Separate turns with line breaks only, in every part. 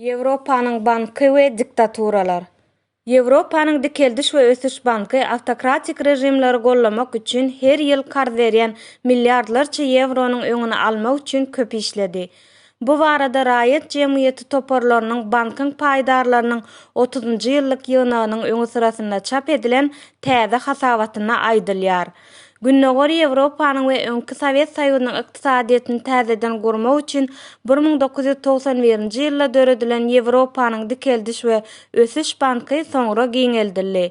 Ýewropanyň banky we diktaturalar. Ýewropanyň Dikeldiş we ösüş banky awtokratik režimleri gollamak üçin her ýyl karz berýän milliardlarça ýewronyň öňüni almak üçin köp işledi. Bu barada raýat jemgyýeti toparlarynyň bankyň paýdarlarynyň otuzynjy ýyllyk ýygnagynyň öňüsyrasynda çap edilen täze hasabatynda aýdylýar. Gündogar Ýewropanyň we öňki Sowet Soýuzynyň ykdysadyýetini täzeden gurmak üçin bir müň dokuz ýüz togsan birinji ýylda döredilen Ýewropanyň dikeldiş we ösüş banky soňra giňeldildi.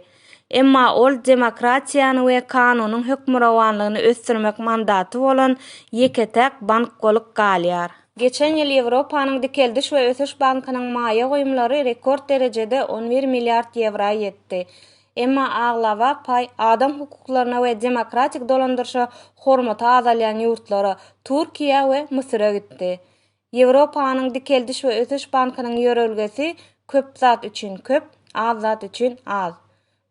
Emma ol demokratiýany we kanunyň hökmürowanlygyny ösdürmek mandaty bolan ýeke-täk bank bolup galýar. Geçen ýyl Ýewropanyň dikeldiş we ösüş bankynyň maýa goýumlary rekord derejede on bir milliard ýewra ýetdi. Emma aglaba paý adam hukuklaryna we demokratik dolandyryşa hormaty azalýan ýurtlara, Türkiýä we Müsüre gitdi. Ýewropanyň dikeldiş we ösüş bankynyň ýörelgesi Köp zat üçin köp, az zat üçin az.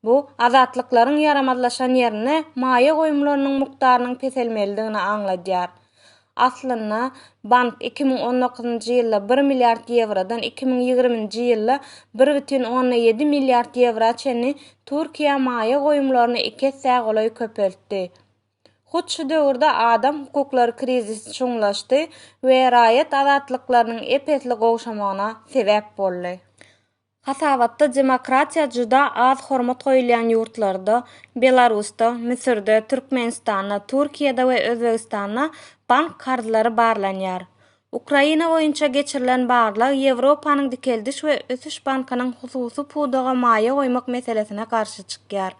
Bu, azatlyklaryň ýaramazlaşan ýerinde maýa goýumlarynyň mukdarynyň peselmelidigini aňladýar. Aslynda, bank iki müň on dokuzynjy ýylda bir milliard ýewrodan iki müň ýigriminji ýylda bir bütin onda ýedi milliard ýewra çenli Türkiýä maýa goýumlaryny iki essä golaý köpeltdi. Hut şu döwürde adam hukuklary krizisi çuňlaşdy we raýat azatlyklarynyň ep-esli gowşamagyna sebäp boldy. Hasabatda demokratiýa juda az hormat goýulýan ýurtlarda, Belarusda, Müsürde, Türkmenistanda, Türkiýede we Özbegistanda bank karzlary barlanýar. Ukraina boýunça geçirilen barlag Ýewropanyň dikeldiş we ösüş bankynyň hususy pudaga maýa goýmak meselesine garşy çykýar.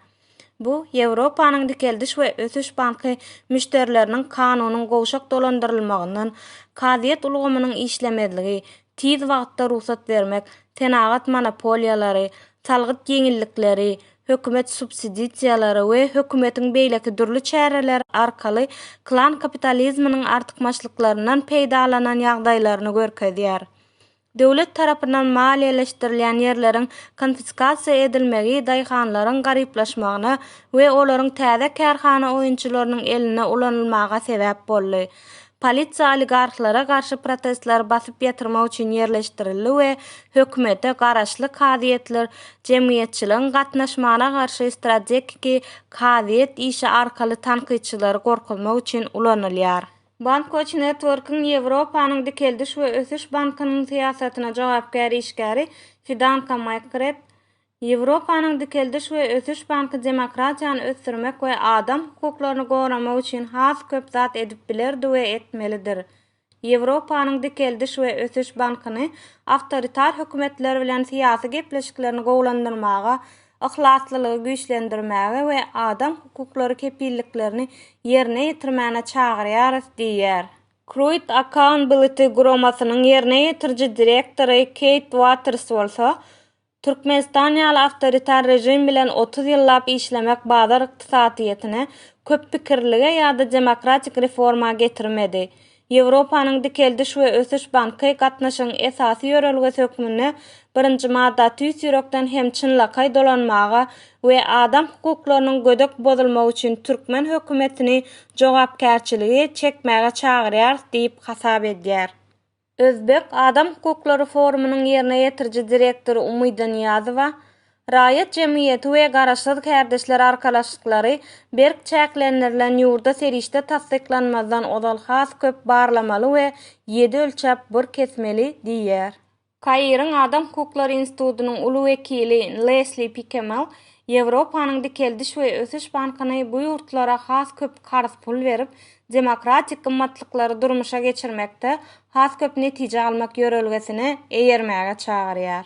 Bu Ýewropanyň dikeldiş we ösüş banky müşderileriniň kanunyň gowşak dolandyrylmagyndan, kazyýet ulgamynyň işlemezligi, tiz wagtda rugsat bermek, senagat monopoliýalary, salgyt ýeňillikleri, hökümet subsiditsiýalary we hökümetiň beýleki dürli çäreleri arkaly klan kapitalizminiň artykmaçlyklaryndan peýdalanan ýagdaýlaryny görkezýär. Döwlet tarapyndan maliýeleşdirilýän ýerleriň konfiskasiýa edilmegi daýhanlaryň garyplaşmagyna we olaryň täze kärhana oýunçylarynyň elinde ulanylmaga sebäp boldy. Polisiýa oligarhlara garşy protestleri basyp ýatyrmak üçin ýerleşdirildi we hökümete garaşly kazyýetler jemgyýetçiligiň gatnaşmagyna garşy strategiki kazyýet işi arkaly tankytçylary gorkuzmak üçin ulanylýar. Bankwatch Network-iň Ýewropanyň Dikeldiş we ösüş bankynyň syýasatyna jogapkär işgäri Fidanka Makkret, Ýewropanyň Dikeldiş we ösüş banky demokratiýany ösdürmek we adam hukuklaryny goramak üçin has köp zat edip bilerdi we etmelidir. Ýewropanyň Dikeldiş we ösüş bankyny awtoritar hökümetler bilen syýasy gepleşiklerini gowulandyrmaga yhlaslylygy güýçlendirmäge we adam hukuklary kepilliklerini ýerine ýetirmäne çagyrýarys diýýär. Kruit Accountability guramasynyň ýerine ýetiriji direktory Keýt Waters bolsa, Türkmenistan ýaly awtoritar režim bilen otuz ýyllap işlemek bazar ykdysadyýetine, köppikirlige ýa-da demokratik reforma getirmedi. Ýewropanyň dikeldiş we ösüş banky gatnaşygyň esasy ýörelgesi hökmünde birinji madda tüýs ýürekden hem çynlakaý dolanmaga we adam hukuklarynyň gödek bozulmagy üçin türkmen hökümetini jogapkärçiligi çekmäge çagyrýarys diýip hasap edýär. Özbek adam hukuklary forumynyň ýerine ýetiriji direktory Umyda Nyýazowa Raýat jemgyýeti we garaşsyz kärdeşler arkalaşyklary berk çäklendirilen ýurda serişde tassyklanmazdan ozal has köp barlamaly we ýedi ölçäp bir kesmeli diýýär. Kairiň Adam hukuklary institutynyň uly wekili Lesli Pikemel Ýewropanyň dikeldiş we ösüş bankyny bu ýurtlara has köp karz pul berip, demokratik gymmatlyklary durmuşa geçirmekde has köp netije almak ýörelgesine eýermäge çagyrýar.